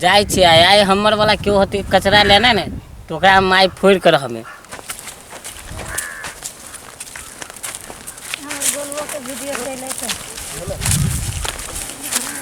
जाइ छियै आइ आइ हमर वाला केओ होतै कचरा लेने ने तऽ ओकरा हम आइ फोड़ि कर हमे हमर गोलुओ के वीडियो चलै छै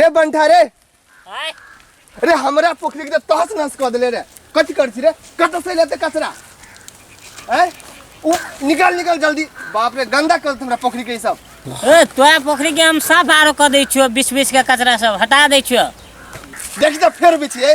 रे बंठा रे आय रे हमरा पोखरी के तहस नहस कऽ देले रे कथी कर छी रे कतऽ से लेते कचरा हैं उ निकाल निकाल जल्दी बाप रे गंदा कर देत हमरा पोखरी के ई सब ए तोरा पोखरी के हम साफ आरो कऽ दै छियो बीस बीस के कचरा सब हटा दै छियो देखी तऽ फेर बिछिए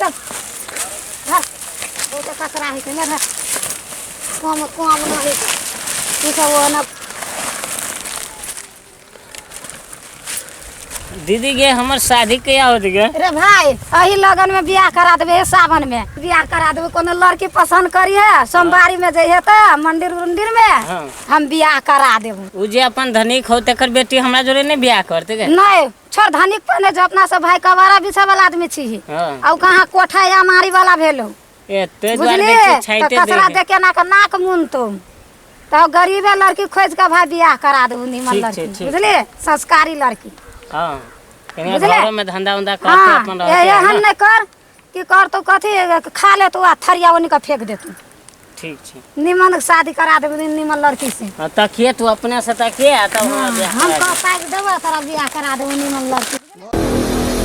चल धर बहुते कचरा होइ छै ने धर कम कम नहि होइ छै ई सब ओना दीदी गे हमर शादी कहिया होत गे रे भाई एही लगन में बियाह करा देबे हे सावन में बियाह करा देबे कोनो लड़की पसंद करी है सोमवारी में जइहे त मंदिर उंदिर में हाँ। हम बियाह करा देबू उ जे अपन धनिक हो तकर बेटी हमरा जोरे ने बियाह करते गे नहीं छोड़ धनिक पहने जो अपना सब भाई कबारा बिछे वाला आदमी छी ही हाँ। और कहाँ कोठा या मारी वाला भेलो ए ते द्वार बुझली बेटी तो छैते कसरा दे दे के ना के नाक मुन तुम तो गरीबे लड़की खोज के भाई बियाह करा दू नीमन ठीक छै, लड़की ठीक। बुझली संस्कारी लड़की हां कने बुझले? घरो में धंधा उंधा करते हाँ अपन ए- रहते एहन नहीं कर की करतौ कथी खा लेतौ आ थरिया ओनी के फेंक देतौ ठीक छै निमन के शादी करा देबे निमन लड़की से हँ, तकिए तू अपने से तकिए आ तब हमरा बियाह हम करा कह दे। पाइ देबो तोरा बियाह करा देबो निमन लड़की